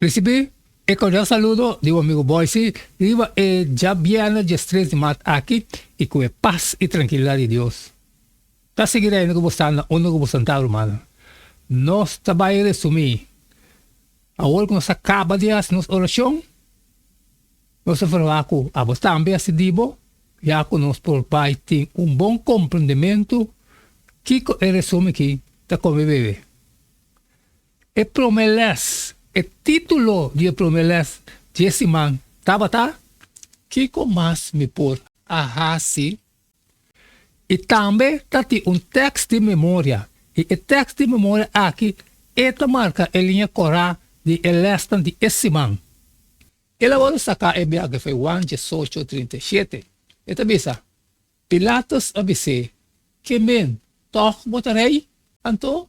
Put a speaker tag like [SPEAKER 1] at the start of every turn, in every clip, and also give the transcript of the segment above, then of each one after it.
[SPEAKER 1] Risibí e kordial saludo di bo amigu Boysi riba e djabièrnè djes tres di maart aki i ku e pas i trankilidat di Dios ta sigui rènde ku bo sta na unda ku bo santá rumannan. Nos ta bai resumí. Awor ku nos a kaba di hasi nos orashon, nos ta verwá ku abo tambe a sidí bo ya ku nos por bai tin un bon komprendementu kiko e resumi ki ta kome bebe. E prome les, e titulo di e prome les dje siman tabata Kiko Mas Mi Por A Hasi? i tambe ta tin un tèks di memoria, i e tèks di memoria aki e ta marka e liña korá di e lèsnan di e siman. El a wòrdu saká e biografia Wan diesocho trinta i shete. E ta bisa, Pilatus a bis'é, Ke men, tòg bo ta rei? Anto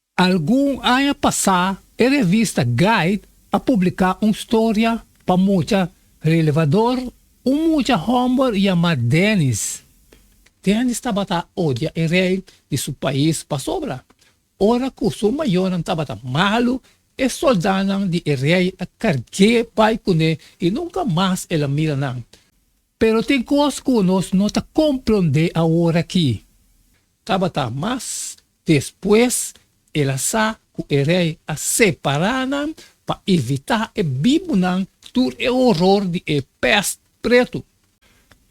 [SPEAKER 1] Algun aña pasá e revista Guide a publiká un storia pa mucha relevador, un mucha hòmber yamá Dennis. Dennis tabata odia e rei di su pais pasobra ora ku su mayonan tabata malu e sòldánan di e rei a karg'é bai kuné i nunka mas el a mira nan. Pero tin kos ku nos no ta komprondé aworakí. Tabata mas despues el a sa ku e rei a separá nan pa evitá e bibunan tur e horor di e pèst pretu.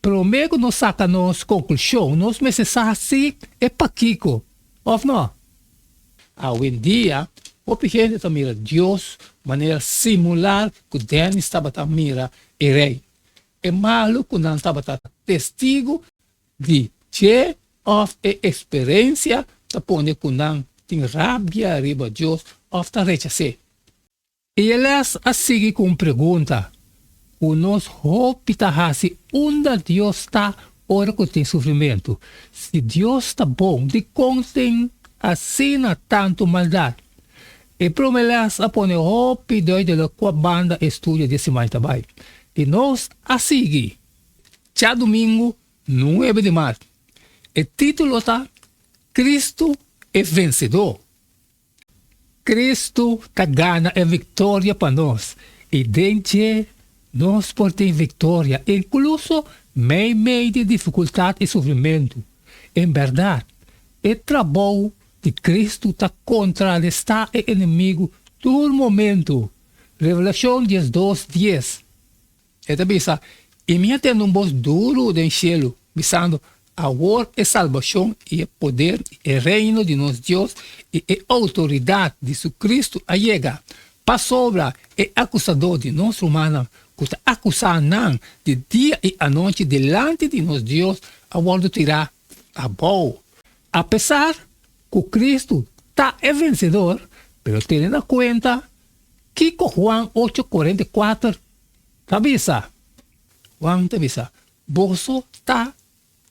[SPEAKER 1] Promé ku nos saka nos konklushon, nos mester sa si e pakiko òf nò. Awendia, hopi hende ta mira Dios manera simular ku Dennis tabata mira e rei. e malu ku nan tabata testigu di dje òf e eksperensia ta pone ku nan tin rabia riba Dios òf ta rechas'é. E lès a sigui ku un pregunta ku nos hopi ta hasi, Unda Dios ta ora ku tin sufrimentu? Si Dios ta bon, dikon tin asina tantu maldat? E prome les a pone hopi duidele kua banda e studio di e siman ta bai, i nos a sigui cha dumingu nuebe di mart. E titulo ta Cristo e Vensedor, Cristo ta gana e victoria pa nos i den dje nos por tin victoria incluso meimei di dificultad i sufrimentu. En berdad, e trabou I Kristu ta kontrarestá e enemigu tur momentu. Revelashon diesdos dies, e ta bisa, I mi a tende un bos duru den shelu, bisando, Awor e salbashon i e poder i e reino di nos Dios i e outoridat di su Kristu a yega, pasobra e akusadó di nos rumannan ku ta akusá nan di dia i anochi dilanti di nos Dios a wòrdu tirá abou. Apesar cu Cristo ta e vencedor, pero tene na cuenta kico Juan ocho cuarenta y cuater ta bisa. Juan ta bisa, Boso ta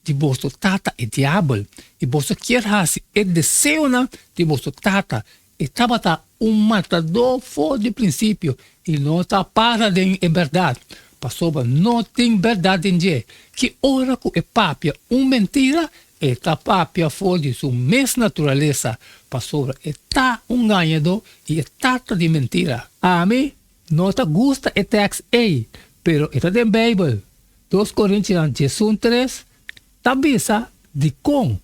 [SPEAKER 1] di boso tata e Diabel, i boso kier haci e deseonan di boso tata. E tabata un matadó for di prinsipio i no ta para den e bèrdat, pasobra no tin bèrdat den dje. Ki ora ku e papia un mentira, e ta papia for di su mes naturalesa, pasobra e ta un ngañadó i e tata di mentira. Ami no ta gusta e tèks ei, pero e ta den Beibel. Dos Korintianan djesun tres ta bisa dikon.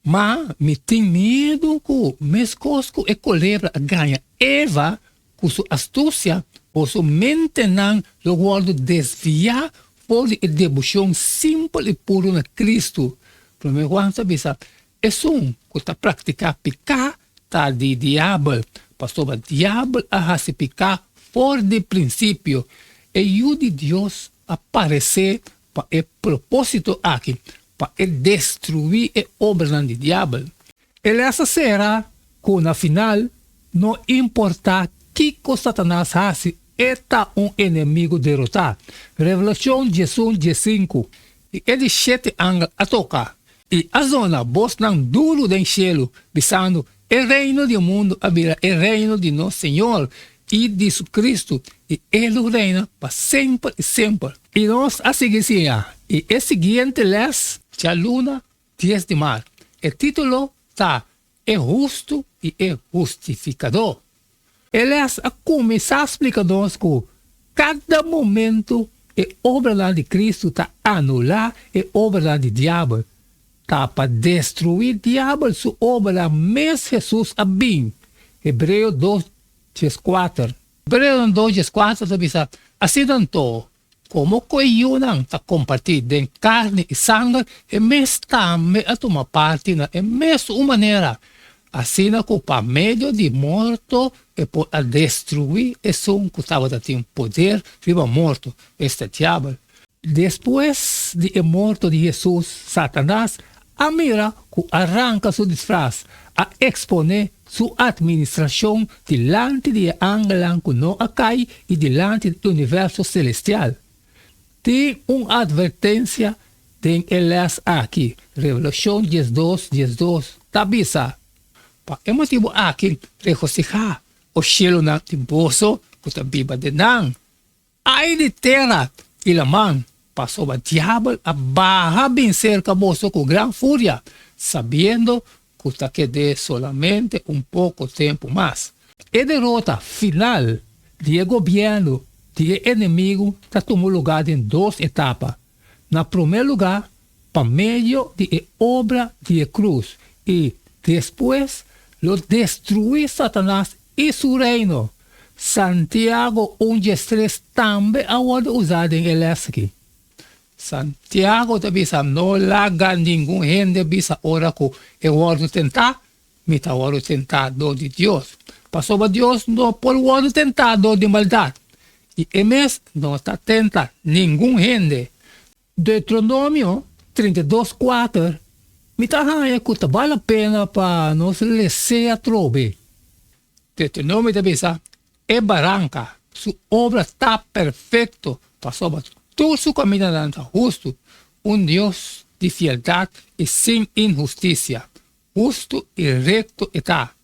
[SPEAKER 1] Ma mi tin miedu cu mescos cu e colebra a gaña Eva cu su astucia, por su mentenan lo wordo desvia for di e debucion simpel i puru na Cristo. Prome Juan ta bisa, Esun cu ta practica pica ta di Diabel, pasobra Diabel a haci pica for di principio. E Yu di Dios a parece Pa e propósito aki, pa e destruí e obranan di Diabel. E lès a sera ku na final, no importá kiko Satanas hasi, e ta un enemigu derotá. Revelashon diesun die sinku, I e di shete angel a toka, i asona bosnan duru den shelu, bisando, E reino di e mundu a bira e reino di nos Señor i di su Cristo, i e lo reina pa semper i semper. I nos a sigui siña i e siguiente les. Djaluna, dies di mar. E titulo ta, E Hustu i e Hustificador. Eles a kuminsá splika nos ku kada momentu e obranan di Kristu ta anulá e obranan di diabel. Ta pa destruí diabel su obranan mes Hesus a bin, Hebreo dos djes kuater. Hebreonan dos djes kuater ta bisa, Asina anto, Komo ku e yunan ta kompartí den karni i sanger, e mes tambe a tuma parti na e mes un manera, asina ku pa medio di morto e por a destruí esun ku tabata tin poder riba morto, esta Diabel. Despues di e morto di Hesus, Satanas a mira ku a ranka su disfras, a eksponé Su atministrashon dilanti di e angelnan ku no a kai i dilanti di e universo selestial. Tin un atvertensia den e lès akí, Revelashon diesdos, diesdos, ta bisa, Pa e motibu akí, regosihá, O shielunan, di boso ku ta biba den nan! Ai di Terat i Laman, pasoba diabel a baha bin serka boso ku gran furia, sabiendo ku ta ked'é solamente un poko tempu mas. E derota final di e gobièrnu di e enemigu ta tuma lugá den dos etapa. Na promé lugá, pa medio di e obra di e krus, i despues lo destruí Satanas i su reino. Santiago un djestres tambe a wòrdu usá den e lès akí. Santiago ta bisa, No laga ningun hende bisa ora ku e wòrdu tentá, Mi ta wòrdu tentá dor di Dios, pasobra Dios no por wòrdu tentá dor di maldat, i e mes no ta tenta ningun hende. Deutronomio trinta i dos kuater, Mi ta haña ku ta bal lapena pa nos resé atrobe. Deutronomio ta bisa, E baranka, su obra ta perfekto, pasobra tur su kamindanan ta hustu, un Dios di fieldat i sin inhustisia. Hustu i rekto e ta.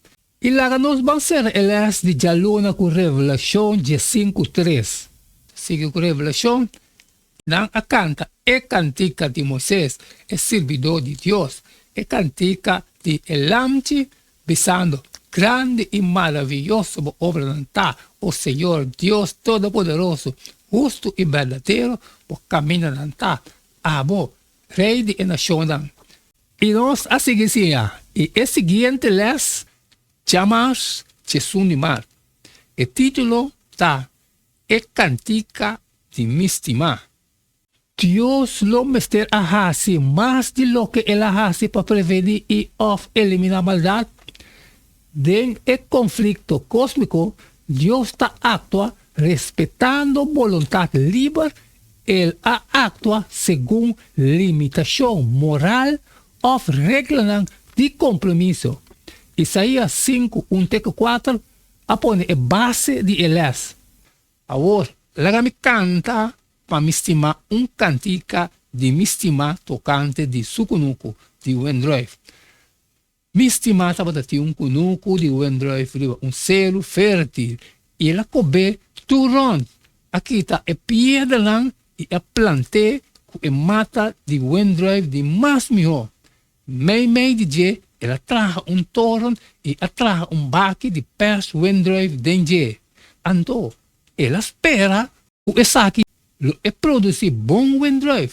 [SPEAKER 1] I laga nos ban sera e lès di djaluna ku Revelashon djesen ku tres. Sigui ku Revelashon, Nan a kanta e kantika di Moises, e sirbidó di Dios, e kantika di e Lamchi, bisando, Grandi i maravioso bo obranan ta, o Señor Dios Todopoderoso, hustu i berdadero bo kamindanan ta, abo, Rei di e nashonnan, I nos a sigui siña, i e siguiente lès djamars Chesun di Mar. E titulo ta E Cantica di Mi Stimá. Dios lo mester a haci mas di loke El a haci pa preveni i òf eliminá maldad? Den e konflikto kósmiko, Dios ta aktua respetando boluntat liber, el a aktua segun limitashon moral òf reglanan di kompromiso. Isaías sinku un te ku kuater a pone e base di e lès. Awor, laga mi kanta pa mi stimá un kantika di mi stimá tokante di Sukunuku di Wendroyf. Mi stima tabata tin un kunuku di Wendruif riba un seru fertil, i el a kob'é tur rònt, a kita e piedernan i a plant'é ku e mata di wendruif di mas mihó. Meimei di dje el a traha un toren i a traha un baki di pers wendruif den dje. Anto el a spera ku esaki lo e produsí bon wendruif.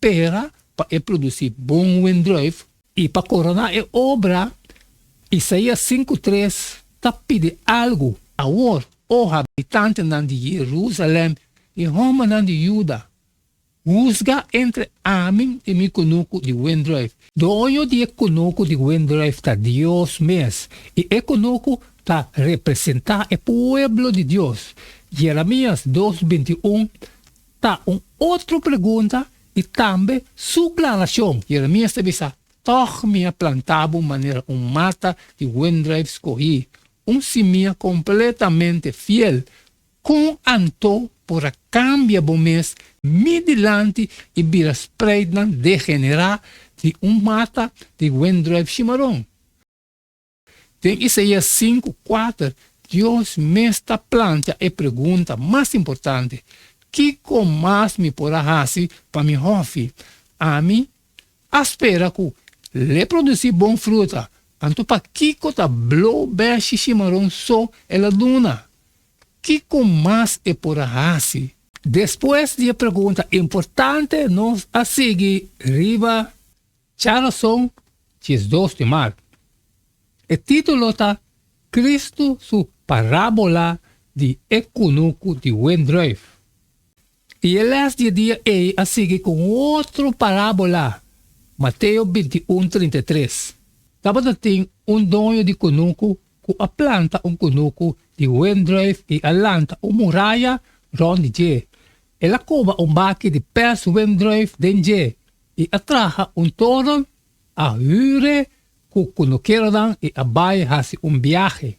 [SPEAKER 1] pera pa e produci bon windruif. I pa coroná e obra, Isaías sinku tres ta pidi algu, Awor, O habitantenan di Jerusalem i hombernan di Judá, husga entre ami i mi kunuku di windruif. Doño di e kunuku di windruif ta Dios mes, i e kunuku ta representá e pueblo di Dios, Jeremias dos binti un Ta un otro pregunta y tambe su planashon. Jeremias ta bisa, Tog mi a planta bo manera un mata di windruif skohi, un simia completamente fiel. Con anto por a cambia bo mes mi dilanti y bira spreidnan degenera di un mata di windruif shimaron? Den Isaías sinku kuater, Dios mes ta plancha e pregunta mas importante, Kiko mas mi por a hasi pa mi hòfi? Ami a spera ku lei produsí bon fruta, anto pakiko ta blobèr shishimaron so el a duna? Kiko mas e por a hasi? Despues di e pregunta importante, nos a sigui riba. Charleston Diezdos de Mar. E titulo ta Cristo su Parábola di e Kunuku di Windruif. I e lès di e dia ei a sigui ku un otro parábola, Mateo bintiun trinta i tres. Tabata tin un doño di kunuku ku a planta un kunuku di wendruif i a lanta un muraya rònt di dje. El a koba un baki di pers wendruif den dje i a traha un toron, a hüre ku kunukeronan i a bai hasi un biahe.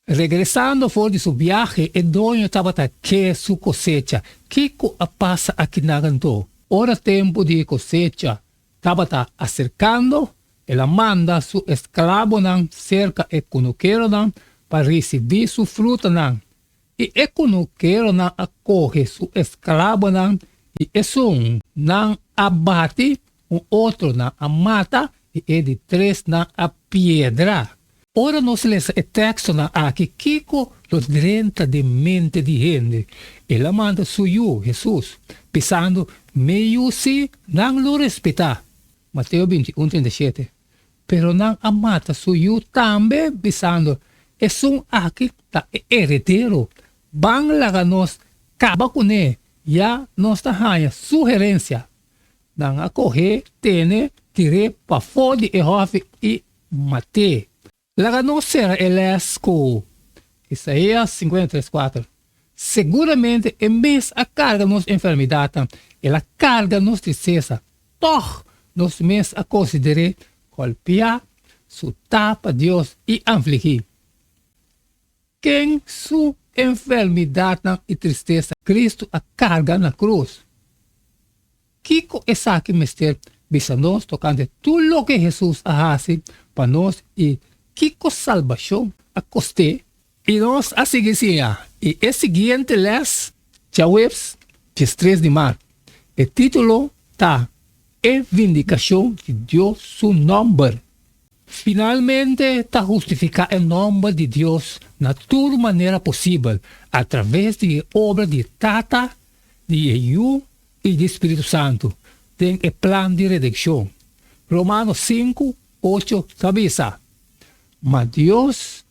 [SPEAKER 1] Regresando for di su biahe, e doño tabata ke su kosecha. Kiko a pasa aki na Rantau? Ora tempu di kosecha, Tabata acercando, el a manda su esclabonan cerca e cunukeronan pa ricibi su frutanan, y e cunukeronan a coge su esclabonan, y esun nan a bati, un otro nan a mata, y e di tres nan a piedra. Ora nos lesa e tekstonan akí, kiko lo drenta den mente di hende? El a manda su Yu, Hesus, pisando, Mi Yu sí, nan lo respetá. Mateo bintiún treinta i shete, Pero nan a mata su Yu tambe, bisando, Esun akí ta e eredero, ban laga nos kaba kuné, ya nos ta haña su herensia. Nan a koh'é, tene, tir'é pafó di e hòfi i Maté, laga nos sera e lès ku Isaias sinkuenta i tres kuater, Seguramente e mes a karga nos enfermidatnan, el a karga nos trisesa, tòg nos mes a konsider'é golpiá, sutá pa Dios i anfligí. Ken su enfermidatnan i tristesa Kristu a karga na krus? Kiko esaki mester bisa nos tokante tur loke Hesus a hasi pa nos i kiko salbashon a kost'é? I nos a sigui siña i e siguiente lès, djaweps diestres di maart. E título ta E vindikashon di Dios su nòmber. Finalmente ta hustifiká e nòmber di Dios na tur manera posibel atraves di e obra di e Tata, di e Yu i di Spiritu Santu den e plan di redenkshon. Romano sinku, ocho ta bisa, Ma Dios,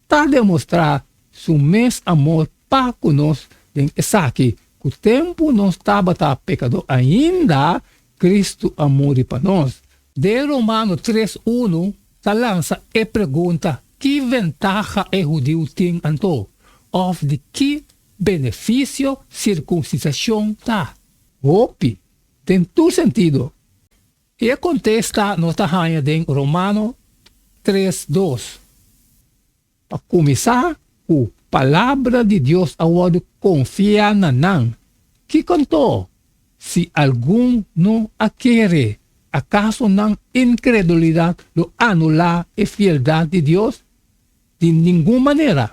[SPEAKER 1] ta demostrá su mes amor pa ku nos. Den esaki, ku tempu nos tabata pekadó ainda, Kristu a muri pa nos. Den Romano tres unu ta lansa e pregunta, Ki ventaha e hudiu tin anto? Òf di ki benefisio sirkunsisashon ta? Hopi, den tur sentido. I e kontesta nos ta haña den Romano tres dos. Pa kuminsá ku Palabra di Dios a wòrdu konfiá na nan, kiko anto si algun no a kere? Akaso nan inkredulidat lo anulá e fieldat di Dios? Di ningun manera!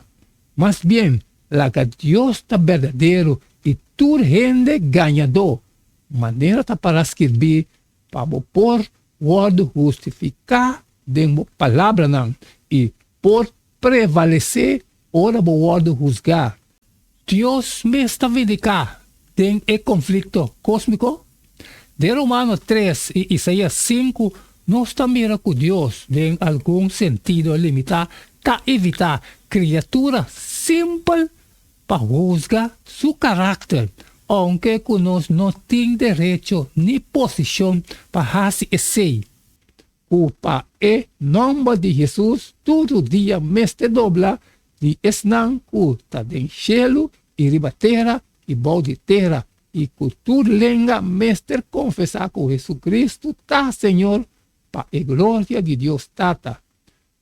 [SPEAKER 1] Mas bien, laga Dios ta berdadero i tur hende gañadó Manera ta para skirbí, pa bo por wòrdu hustifiká den bo palabranan i por prevalesé ora bo wòrdu husgá. Dios mes ta vindiká den e konflikto kósmiko? Den Romano tres i Isaías sinku nos ta mira ku Dios den algun sentido limitá ta evitá kriatura simpel. pa husga su karakter, ounke ku nos no tin derecho ni posishon pa hasi esei. Ku pa e nòmber di Hesus tur rudia mester dobla, di esnan ku ta den shelu i riba tera i bou di tera, i ku tur lenga mester konfesá ku JesuCristu ta Señor, pa e gloria di Dios Tata.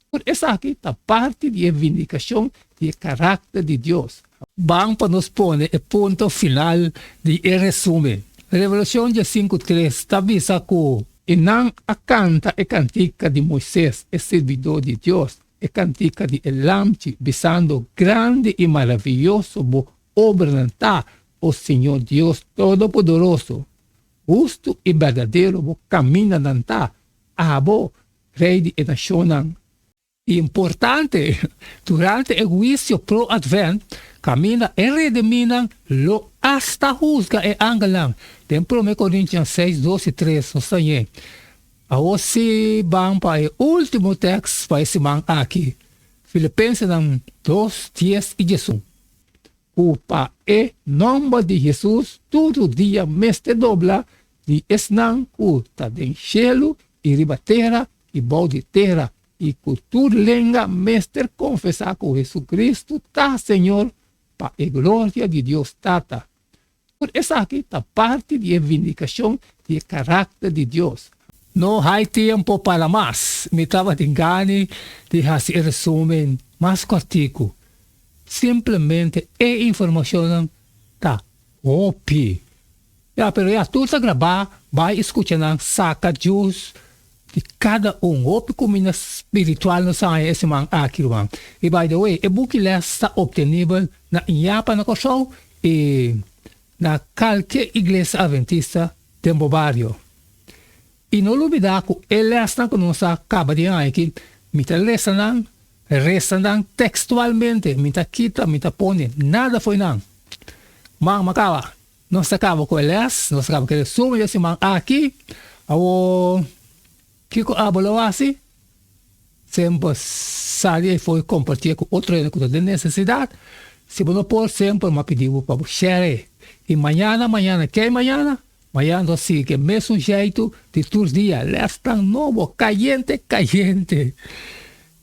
[SPEAKER 1] Tur esaki ta parti di e vindikashon di e karakter di Dios. Ban pa nos pone e punto final di e resumen. Revelashon diasinku tres ta bisa ku. I nan a kanta e kantika di Moises, e sirbidó di Dios, e kantika di e Lamchi, bisando, Grandi i maravioso bo obranan ta, O Siño Dios Todopoderoso! Hustu i berdadero bo kamindanan ta, abo, Rei di e nashonnan. I importante, durante e huisio pro-Advent, kaminda e rediminan lo asta husga e angelnan. Den Prome Korintian seis, dos i tres nos ta yei. Awor sí ban pa e último tèkst pa e siman aki, Filipensenan dos, dies i diesun. Ku pa e nòmber di Hesus tur dia mester dobla Di esnan ku ta den shelu i riba tera i bou di tera, i ku tur lenga mester konfesá ku JesuCristu ta Señor pa e gloria di Dios Tata. Tur esaki ta parti di e vindikashon di e karakter di Dios. No hay tiempo para mas. Mi tabatin gani di hasi e resumen mas kòrtiku. Simplemente e informashonnan ta hopi. Ya, pero ya tur ta grabá, bai i skucha nan, saka jus di kada un. Hopi kuminda spiritual nos a haña e siman aki, ruman. I by the way, e buki lès ta optenibel na Iapa na Kòrsou i na kalke iglesia Adventista den bo bario. I no lubidá ku e lèsnan ku nos a kaba di haña aki, mi ta lesa nan, resa nan tekstualmente, mi ta kita, mi ta pone nada fo'i nan. Mama kaba. Nos ta caba cu e les, nos ta caba cu e resumen di e siman aki. Awor, kico abo lo haci? Siempre bo sali afuer compartié cu otro hende cu ta den necesidad. Si bo no por, siempre bo m'a pidi bo pa bo share. Y mañana, mañana kei mañana? Mañana nos a sigui cu e mesun jeitu di tur dia, lesnan nobo, cayente, cayente.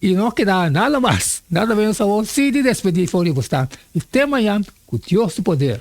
[SPEAKER 1] I no keda nada mas. Nan ta bini sabó sí di despedí for di bosnan. I te mañan ku Dios di poder.